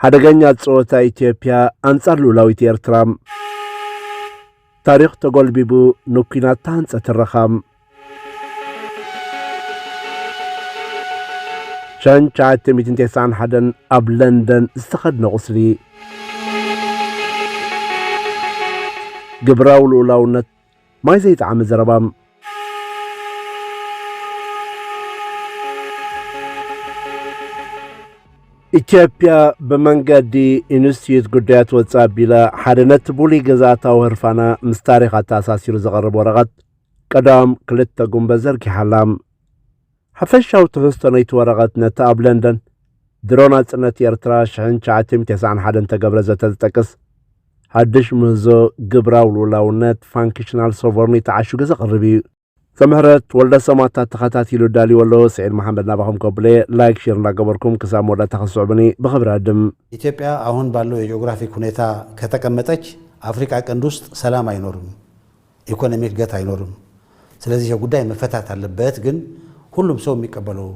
ሓደገኛ ጸወታ ኢትዮጵያ ኣንጻር ልኡላዊት ኤርትራ። ታሪኽ ተጎልቢቡ ንኲናት ተሃንጸ ትረኻ። ሸን ትሽዓተ ሚእትን ተስዓን ሓደን ኣብ ለንደን ዝተኸድነ ቁስሊ ግብራዊ ልኡላውነት ማይ ዘይጠዓመ ዘረባ። ኢትዮጵያ ብመንገዲ ኢንስቲትዩት ጉዳያት ወፃኢ ኣቢለ ሓደ ነቲ ብሉይ ግዝኣታዊ ህርፋና ምስ ታሪኽ ኣተኣሳሲሩ ዘቐርብ ወረቐት ቀዳም ክልተ ጉንበ ዘርጊሓ ኣላ። ሓፈሻዊ ትሕዝቶ ነይቲ ወረቐት ነቲ ኣብ ለንደን ድሮ ናጽነት ኤርትራ ሽሕን ትሽዓተሚእን ተስዓን ሓደን እተገብረ ዘተ ዝጠቅስ ሓድሽ ምህዞ ግብራዊ ልኡላውነት፣ Functional Sovereignty፣ ዓሽጉ ዘቕርብ እዩ። ዘምህረት ወልደሰማታ ተኸታቲሉ ዳልይዎ ኣሎ። ስዒድ መሓመድ ናባኹም ከብለየ ላይክ ሼር እንዳገበርኩም ክሳብ መወዳእታ ክትስዕቡኒ ብኽብሪ እዕድም። ኢትዮጵያ አሁን ባለው የጂኦግራፊክ ሁኔታ ከተቀመጠች አፍሪካ ቀንድ ውስጥ ሰላም አይኖርም ኢኮኖሚ እድገት ኣይኖርም ስለዚህ ይሄ ጉዳይ መፈታት አለበት ግን ሁሉም ሰው የሚቀበለው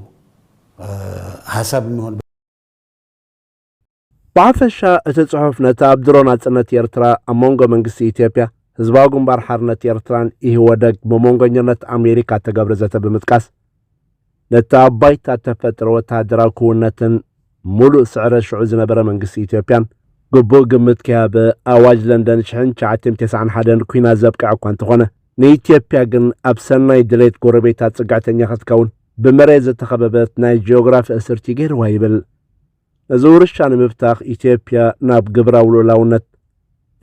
ሀሳብ የሚሆን ብሓፈሻ እቲ ጽሑፍ ነቲ ኣብ ድሮ ናጽነት ኤርትራ ኣብ መንጎ መንግስቲ ኢትዮጵያ ህዝባዊ ግንባር ሓርነት ኤርትራን ኢህወደግ ብመንጎኝነት ኣሜሪካ እተገብረ ዘተ ብምጥቃስ ነቲ ኣብ ባይታ እተፈጥረ ወተሃደራዊ ክውንነትን ምሉእ ስዕረት ሽዑ ዝነበረ መንግስቲ ኢትዮጵያን ግቡእ ግምት ከይሃበ፣ ኣዋጅ ለንደን ሽሕን ትሽዓተን ቴስዓን ሓደን ኲናት ዘብቅዐ እኳ እንተኾነ፣ ንኢትዮጵያ ግን ኣብ ሰናይ ድሌት ጎረቤታ ጽግዕተኛ ክትከውን ብመሬት ዝተኸበበት ናይ ጂኦግራፊ እስርቲ ገይርዋ ይብል። ነዚ ውርሻ ንምብታኽ ኢትዮጵያ ናብ ግብራዊ ልኡላውነት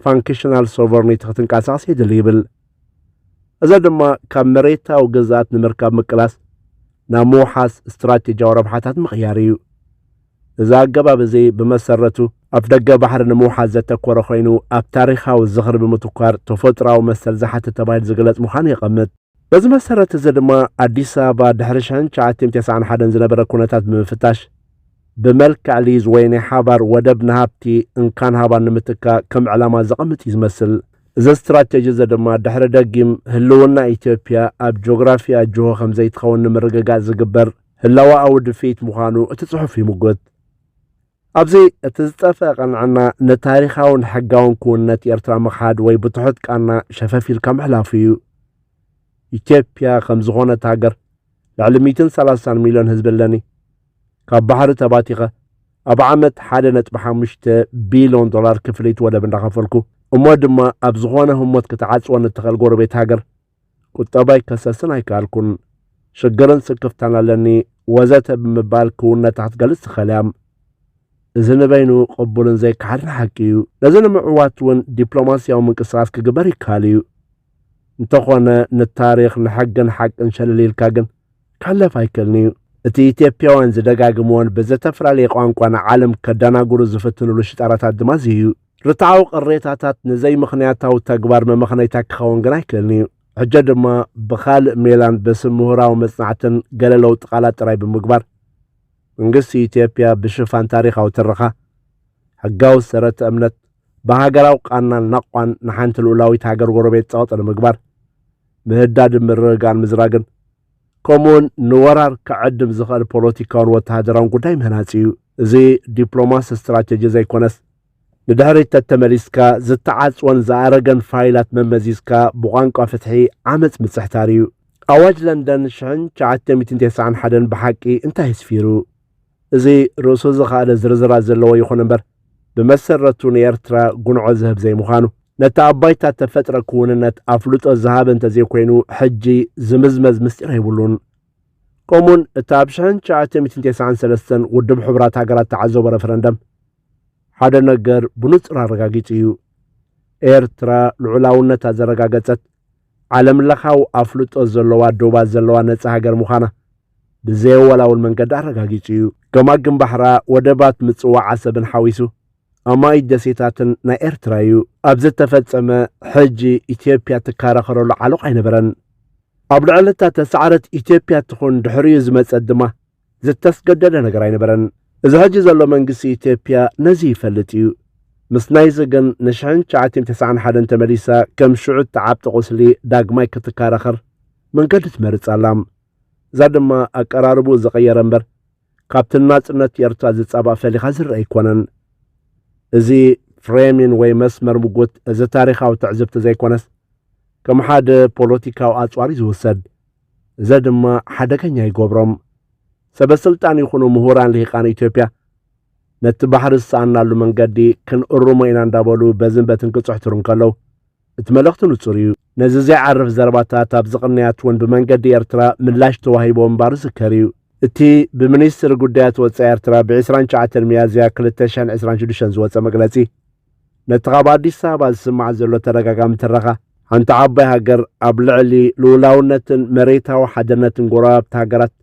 ፋንክሽናል ሶቨርኒቲ ክትንቀሳቐስ የድሊ ይብል። እዚ ድማ ካብ መሬታዊ ግዝኣት ንምርካብ ምቅላስ ናብ ምውሓስ ስትራቴጂያዊ ረብሓታት ምቕያር እዩ። እዚ ኣገባብ እዚ ብመሰረቱ ኣፍ ደገ ባሕሪ ንምውሓስ ዘተኮረ ኮይኑ ኣብ ታሪኻዊ ዝኽሪ ብምትኳር ተፈጥሮኣዊ መሰል ዝሓትት ተባሂሉ ዝግለጽ ምዃኑ የቐምጥ። በዚ መሰረት እዚ ድማ ኣዲስ ኣበባ ድሕሪ ሸን ሸዓቲን ቴስዓን ሓደን ዝነበረ ኩነታት ብምፍታሽ ብመልክዕ ሊዝ ወይ ናይ ሓባር ወደብ ንሃብቲ እንካን ሃባን ንምትካእ ከም ዕላማ ዘቐምጥ እዩ ዝመስል። እዚ ስትራቴጂ እዚ ድማ ድሕሪ ደጊም ህልውና ኢትዮጵያ ኣብ ጂኦግራፊኣ ጅሆ ከም ዘይትኸውን ንምርግጋፅ ዝግበር ህላወኣዊ ድፍኢት ምዃኑ እቲ ፅሑፍ ይምጉት። ኣብዚ እቲ ዝጠፍኣ ቅንዕና ንታሪኻውን ሕጋውን ክውንነት ኤርትራ ምኽሓድ ወይ ብትሑት ቃና ሸፈፍ ኢልካ ምሕላፉ እዩ። ኢትዮጵያ ከም ዝኾነት ሃገር ልዕሊ ሚእትን ሰላሳን ሚልዮን ህዝቢ ኣለኒ። ካብ ባሕሪ ተባቲኸ ኣብ ዓመት ሓደ ነጥቢ ሓሙሽተ ቢልዮን ዶላር ክፍሊት ወደብ እንዳኸፈልኩ እሞ ድማ ኣብ ዝኾነ ህሞት ክትዓጽወኒ እትኽእል ጎረቤት ሃገር ቁጠባይ ከሰስን ኣይከኣልኩን፣ ሽግርን ስክፍታን ኣለኒ፣ ወዘተ ብምባል ክውንነታ ክትገልጽ ትኽእል እያ። እዚ ንበይኑ ቅቡልን ዘይከሓድን ሓቂ እዩ። ነዚ ንምዕዋት እውን ዲፕሎማስያዊ ምንቅስቓስ ክግበር ይከኣል እዩ። እንተኾነ ንታሪኽ ንሕግን ሓቅን ሸለል ኢልካ ግን ክሕለፍ ኣይክእልን እዩ። እቲ ኢትዮጵያውያን ዝደጋግምዎን ብዘተፈላለየ ቋንቋ ንዓለም ከደናግሩ ዝፍትንሉ ሽጣራታት ድማ እዚ እዩ። ርትዓዊ ቅሬታታት ንዘይምኽንያታዊ ተግባር መመኽነይታ ክኸውን ግና ኣይክእልን እዩ። ሕጀ ድማ ብኻልእ ሜላን በስም ምሁራዊ መጽናዕትን ገለ ለውጢ ቃላት ጥራይ ብምግባር፣ መንግስቲ ኢትዮጵያ ብሽፋን ታሪኻዊ ትርኻ፣ ሕጋዊ ሰረተ እምነት፣ ብሃገራዊ ቃናን ናቕቋን ንሓንቲ ልኡላዊት ሃገር ጎረቤት ጸቕጢ ንምግባር፣ ምህዳድን ምርግጋእን ምዝራግን፣ ከምኡውን ንወራር ክዕድም ዝኸእል ፖለቲካውን ወተሃደራውን ጉዳይ ምህናጽ እዩ። እዚ ዲፕሎማሲ ስትራቴጂ ዘይኮነስ፣ ንድሕሪት ተተመሊስካ ዝተዓጽወን ዝኣረገን ፋይላት መመዚዝካ ብቋንቋ ፍትሒ ዓመጽ ምጽሕታር እዩ። ኣዋጅ ለንደን ሽሕን ትሽዓተ ሚእትን ተስዓን ሓደን ብሓቂ እንታይ ኣስፊሩ? እዚ ርእሱ ዝኸኣለ ዝርዝራት ዘለዎ ይኹን እምበር ብመሰረቱ ንኤርትራ ጉንዖ ዝህብ ዘይምዃኑ፣ ነቲ ኣብ ባይታ እተፈጥረ ክውንነት ኣፍልጦ ዝሃበ እንተዘይኮይኑ ሕጂ ዝምዝመዝ ምስጢር የብሉን። ከምኡውን እቲ ኣብ ሽሕን ትሽዓተ ሚእትን ቴስዓን ሰለስተን ውድብ ሕቡራት ሃገራት እተዓዘቦ ረፈረንደም ሓደ ነገር ብንጹር ኣረጋጊጹ እዩ። ኤርትራ ልዑላውነታ ዘረጋገጸት ዓለምለኻዊ ኣፍልጦ ዘለዋ ዶባት ዘለዋ ነጻ ሃገር ምዃና ብዘየወላውል መንገዲ ኣረጋጊጹ እዩ። ገማግም ባሕራ፣ ወደባት ምጽዋዕ ዓሰብን ሓዊሱ ኣማኢት ደሴታትን ናይ ኤርትራ እዩ። ኣብ ዝተፈጸመ ሕጂ ኢትዮጵያ ትከራኸረሉ ዓሎቕ ኣይነበረን። ኣብ ልዕሊ እታ ተሳዕረት ኢትዮጵያ ትኹን ድሕሪኡ ዝመጸት ድማ ዝተስገደደ ነገር ኣይነበረን። እዚ ሕጂ ዘሎ መንግስቲ ኢትዮጵያ ነዚ ይፈልጥ እዩ። ምስ ናይዚ ግን ንሽሕን ትሽዓቲን ተስዓን ሓደን ተመሊሳ ከም ሽዑ እትዓብጥ ቁስሊ ዳግማይ ክትከራኸር መንገዲ ትመርጽ ኣላ። እዛ ድማ ኣቀራርብኡ ዝቐየረ እምበር ካብቲ ንናጽነት ኤርትራ ዝጻባእ ፈሊኻ ዝርእ ኣይኮነን። እዚ ፍሬሚን ወይ መስመር ምጉት እዚ ታሪኻዊ ትዕዝብቲ ዘይኮነስ ከም ሓደ ፖለቲካዊ ኣጽዋር እዩ ዝውሰድ። እዘ ድማ ሓደገኛ ይገብሮም። ሰበስልጣን ይኹኑ ምሁራን ልሂቃን ኢትዮጵያ ነቲ ባሕሪ ዝሰኣናሉ መንገዲ ክንእርሞ ኢና እንዳበሉ በዝን በትን ክጽሕትሩ እንከለው እቲ መልእኽቲ ንጹር እዩ። ነዚ ዘይዓርፍ ዘረባታት ኣብዚ ቅንያት እውን ብመንገዲ ኤርትራ ምላሽ ተዋሂቦ ምንባሩ ዝዝከር እዩ። እቲ ብሚኒስትሪ ጉዳያት ወጻኢ ኤርትራ ብ ዕስራን ትሽዓተን ሚያዝያ ክልተ ሽሕን ዕስራን ሽዱሽተን ዝወጸ መግለጺ ነቲ ካብ ኣዲስ ኣበባ ዝስማዕ ዘሎ ተደጋጋሚ ትረኻ ሓንቲ ዓባይ ሃገር ኣብ ልዕሊ ልኡላውነትን መሬታዊ ሓድነትን ጎረባብቲ ሃገራት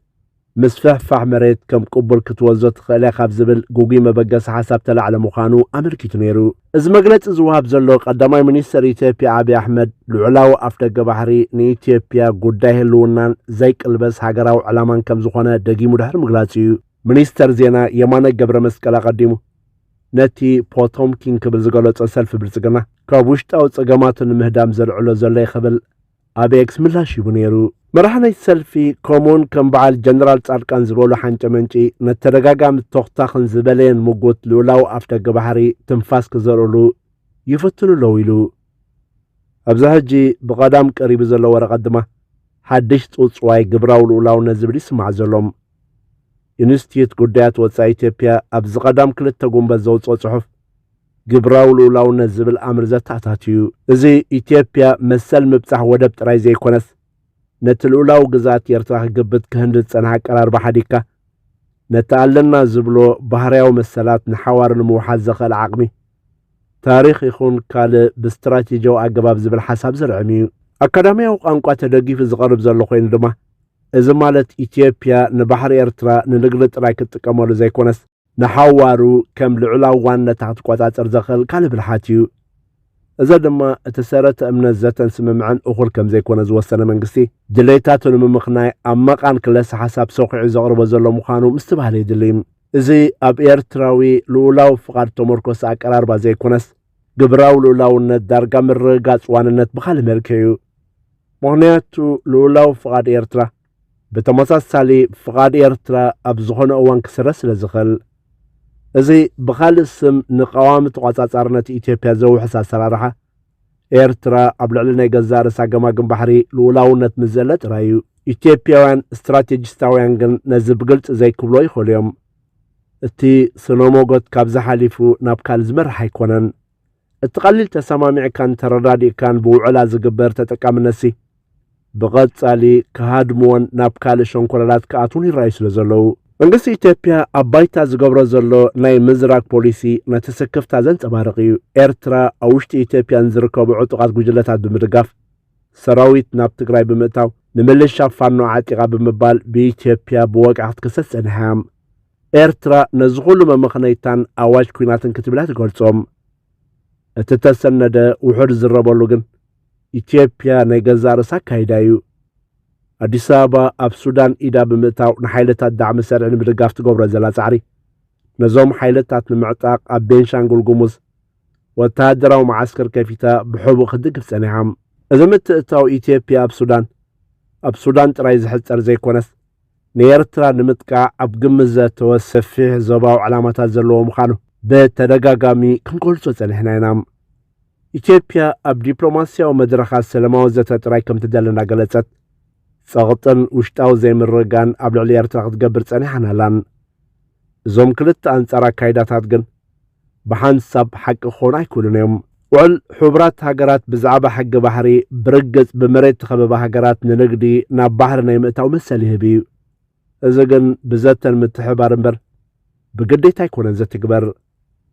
ምስፍሕፋሕ መሬት ከም ቅቡል ክትወስዶ ትኽእል እያ ካብ ዝብል ግጉይ መበገሲ ሓሳብ ተላዕለ ምዃኑ ኣመልኪቱ ነይሩ። እዚ መግለጺ ዝወሃብ ዘሎ ቀዳማይ ሚኒስተር ኢትዮጵያ ኣብይ ኣሕመድ ልዑላዊ ኣፍደገ ባሕሪ ንኢትዮጵያ ጉዳይ ህልውናን ዘይቅልበስ ሃገራዊ ዕላማን ከም ዝኾነ ደጊሙ ድሕሪ ምግላጹ እዩ። ሚኒስተር ዜና የማነ ገብረመስቀል ኣቐዲሙ ነቲ ፖቶምኪን ክብል ዝገለጾ ሰልፊ ብልጽግና ካብ ውሽጣዊ ጸገማቱ ንምህዳም ዘልዕሎ ዘሎ እዩ ክብል ኣብ ኤክስ ምላሽ ሂቡ ነይሩ። መራሒ ናይቲ ሰልፊ ከምኡውን ከም በዓል ጀነራል ጻድቃን ዝበሉ ሓንጨ መንጪ ነቲ ተደጋጋሚ ቶኽታኽን ዝበለየን ምጉት ልኡላዊ ኣፍደገ ባሕሪ ትንፋስ ክዘርኡሉ ይፍትኑ ኣለዉ ኢሉ። ኣብዚ ሕጂ ብቐዳም ቀሪቡ ዘሎ ወረቐት ድማ ሓድሽ ጽውጽዋይ ግብራዊ ልኡላውነት ዝብል ይስማዕ ዘሎም። ኢንስቲትዩት ጉዳያት ወጻኢ ኢትዮጵያ ኣብዚ ቀዳም ክልተ ጉንበት ዘውጽኦ ጽሑፍ ግብራዊ ልኡላውነት ዝብል ኣምር ዘተኣታትዩ። እዚ ኢትዮጵያ መሰል ምብጻሕ ወደብ ጥራይ ዘይኮነስ፣ ነቲ ልኡላዊ ግዝኣት ኤርትራ ክግብት ክህንድድ ዝጸንሐ ኣቀራርባ ሓዲግካ፣ ነቲ ኣለና ዝብሎ ባህርያዊ መሰላት ንሓዋሩ ንምውሓስ ዘኸእል ዓቕሚ፣ ታሪኽ ይኹን ካልእ ብስትራቴጂያዊ ኣገባብ ዝብል ሓሳብ ዝርዕም ኢዩ። ኣካዳሚያዊ ቋንቋ ተደጊፉ ዝቐርብ ዘሎ ኮይኑ ድማ፣ እዚ ማለት ኢትዮጵያ ንባሕሪ ኤርትራ ንንግዲ ጥራይ ክትጥቀመሉ ዘይኮነስ፣ ንሓዋሩ ከም ልዑላዊ ዋነታ ክትቆጻጸር ዘኽእል ካልእ ብልሓት እዩ። እዚ ድማ እቲ ሰረተ እምነት ዘተን ስምምዕን እኹል ከም ዘይኮነ ዝወሰነ መንግስቲ፣ ድሌታቱ ንምምኽናይ ኣብ መቓን ክለሰ ሓሳብ ሰዂዑ ዘቕርቦ ዘሎ ምዃኑ ምስትብሃል የድሊ። እዚ ኣብ ኤርትራዊ ልኡላዊ ፍቓድ እተመርኮሰ ኣቀራርባ ዘይኮነስ፣ ግብራዊ ልኡላውነት ዳርጋ ምርግጋጽ ዋንነት ብኻልእ መልክዕ እዩ። ምኽንያቱ ልኡላዊ ፍቓድ ኤርትራ፣ ብተመሳሳሊ ፍቓድ ኤርትራ ኣብ ዝኾነ እዋን ክስረ ስለ ዝኽእል እዚ ብኻልእ ስም ንቀዋሚ ተቋጻጻርነት ኢትዮጵያ ዘውሕስ ኣሰራርሓ ኤርትራ ኣብ ልዕሊ ናይ ገዛእ ርእሳ ገማግም ባሕሪ ልኡላውነት ምስ ዘለ ጥራይ እዩ። ኢትዮጵያውያን ስትራቴጂስታውያን ግን ነዚ ብግልፂ ዘይክብሎ ይኽእሉ እዮም እቲ ስነ ሞጎት ካብዚ ሓሊፉ ናብ ካልእ ዝመርሕ ኣይኮነን እቲ ቀሊል ተሰማሚዕካን ተረዳዲእካን ብውዕላ ዝግበር ተጠቃምነትሲ ብቐጻሊ ክሃድምዎን ናብ ካልእ ሸንኮለላት ክኣትዉን ይረኣዩ ስለ ዘለዉ፣ መንግስቲ ኢትዮጵያ ኣብ ባይታ ዝገብሮ ዘሎ ናይ ምዝራግ ፖሊሲ ነቲ ስክፍታ ዘንጸባርቕ እዩ። ኤርትራ ኣብ ውሽጢ ኢትዮጵያ ንዝርከቡ ዕጡቓት ጉጅለታት ብምድጋፍ፣ ሰራዊት ናብ ትግራይ ብምእታው፣ ንምልሻ ፋኖ ዓጢቓ ብምባል ብኢትዮጵያ ብወግዒ ክትክሰስ ጸኒሓ እያ። ኤርትራ ነዚ ኹሉ መመኽነይታን ኣዋጅ ኲናትን ክትብላ ትገልጾም። እቲ እተሰነደ ውሑድ ዝዝረበሉ ግን ኢትዮጵያ ናይ ገዛእ ርእሳ ኣካይዳ እዩ። ኣዲስ ኣበባ ኣብ ሱዳን ኢዳ ብምእታው ንሓይልታት ዳዕመ ሰርዒ ንምድጋፍ ትገብሮ ዘላ ጻዕሪ ነዞም ሓይልታት ንምዕጣቕ ኣብ ቤንሻንጉል ጉሙዝ ወተሃደራዊ መዓስከር ከፊታ ብሕቡእ ክትድግፍ ጸኒሓ። እዚ ምትእትታው ኢትዮጵያ ኣብ ሱዳን ኣብ ሱዳን ጥራይ ዝሕጸር ዘይኮነስ ንኤርትራ ንምጥቃዕ ኣብ ግምት ዘእተወ ሰፊሕ ዞባዊ ዕላማታት ዘለዎ ምዃኑ ብተደጋጋሚ ክንገልጾ ጸኒሕና ኢና። ኢትዮጵያ ኣብ ዲፕሎማስያዊ መድረኻት ሰለማዊ ዘተ ጥራይ ከም ትደሊ እናገለጸት፣ ጸቕጥን ውሽጣዊ ዘይምርግጋእን ኣብ ልዕሊ ኤርትራ ክትገብር ጸኒሓን ኣላን። እዞም ክልተ ኣንጻር ኣካይዳታት ግን ብሓንሳብ ሓቂ ክኾኑ ኣይክእሉን እዮም። ውዕል ሕቡራት ሃገራት ብዛዕባ ሕጊ ባሕሪ ብርግጽ ብመሬት ተኸበባ ሃገራት ንንግዲ ናብ ባሕሪ ናይ ምእታው መሰል ይህብ እዩ። እዚ ግን ብዘተን ምትሕብባር እምበር ብግዴታ ኣይኮነን ዘትግበር።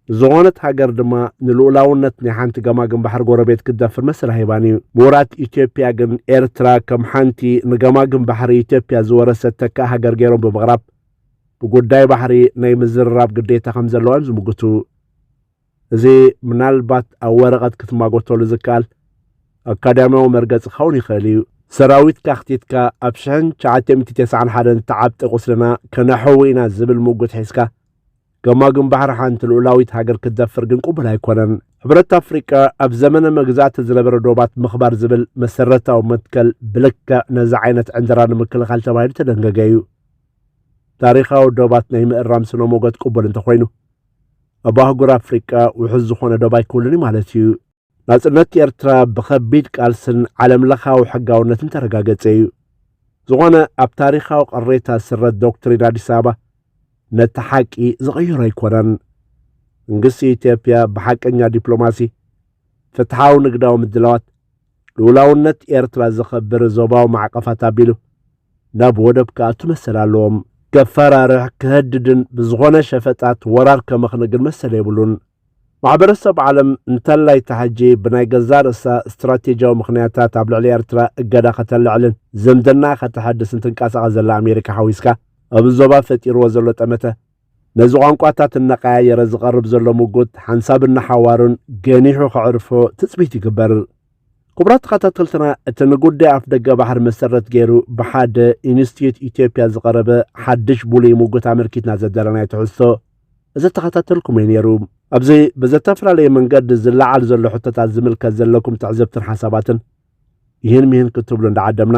ዝኾነት ሃገር ድማ ንልኡላውነት ናይ ሓንቲ ገማግም ባሕሪ ጎረቤት ክትደፍር መሰል ሃይባን እዩ። ምሁራት ኢትዮጵያ ግን ኤርትራ ከም ሓንቲ ንገማግም ባሕሪ ኢትዮጵያ ዝወረሰት ተካእ ሃገር ገይሮም ብምቕራብ ብጉዳይ ባሕሪ ናይ ምዝርራብ ግዴታ ከም ዘለዋ እዮም ዝምግቱ። እዚ ምናልባት ኣብ ወረቐት ክትማጎተሉ ዝከኣል ኣካዳሚያዊ መርገጺ ክኸውን ይኽእል እዩ። ሰራዊት ካክቲትካ ኣብ 1991 ተዓብጠ ቁስልና ከነሕዊ ኢና ዝብል ምጉት ሒዝካ ገማግም ባሕሪ ሓንቲ ልኡላዊት ሃገር ክትደፍር ግን ቅቡል ኣይኮነን። ሕብረት ኣፍሪቃ ኣብ ዘመነ መግዛእቲ ዝነበረ ዶባት ምኽባር ዝብል መሰረታዊ መትከል ብልክዕ ነዚ ዓይነት ዕንደራ ንምክልኻል ተባሂሉ ተደንገገ እዩ። ታሪኻዊ ዶባት ናይ ምእራም ስነ ሞገት ቅቡል እንተኾይኑ ኣብ ኣህጉር ኣፍሪቃ ውሑስ ዝኾነ ዶብ ኣይክህሉን ማለት እዩ። ናጽነት ኤርትራ ብኸቢድ ቃልስን ዓለም ለኻዊ ሕጋውነትን ተረጋገጸ እዩ። ዝኾነ ኣብ ታሪኻዊ ቅሬታ ዝስረት ዶክትሪን ኣዲስ ኣበባ ነቲ ሓቂ ዝቕይሮ ኣይኮነን መንግስቲ ኢትዮጵያ ብሓቀኛ ዲፕሎማሲ ፍትሓዊ ንግዳዊ ምድላዋት ልኡላውነት ኤርትራ ዘኸብር ዞባዊ ማዕቐፋት ኣቢሉ ናብ ወደብ ክኣቱ መሰል ኣለዎም። ከፈራርሕ፣ ክሀድድን ብዝኾነ ሸፈጣት ወራር ከመኽን ግን መሰል የብሉን። ማሕበረሰብ ዓለም እንተላይ ተሐጂ ብናይ ገዛእ ርእሳ ስትራቴጂያዊ ምኽንያታት ኣብ ልዕሊ ኤርትራ እገዳ ከተልዕልን ዝምድናኣ ከተሐድስን ትንቀሳቐስ ዘላ ኣሜሪካ ሓዊስካ ኣብዚ ዞባ ፈጢርዎ ዘሎ ጠመተ ነዚ ቋንቋታት እናቐያየረ ዝቐርብ ዘሎ ምጉት ሓንሳብን ንሓዋሩን ገኒሑ ከዕርፎ ትጽቢት ይግበር። ክቡራት ተኸታተልትና እቲ ንጉዳይ ኣፍ ደገ ባሕሪ መሰረት ገይሩ ብሓደ ኢንስቲትዩት ኢትዮጵያ ዝቐረበ ሓድሽ ብሉይ ምጉት ኣመልኪትና ዘደለናይ ትሕዝቶ እዚ ተኸታተልኩም እዩ ነይሩ። ኣብዚ ብዘተፈላለየ መንገዲ ዝለዓል ዘሎ ሕቶታት ዝምልከት ዘለኩም ትዕዝብትን ሓሳባትን ይህን ምሂን ክትብሉ እንዳዓደምና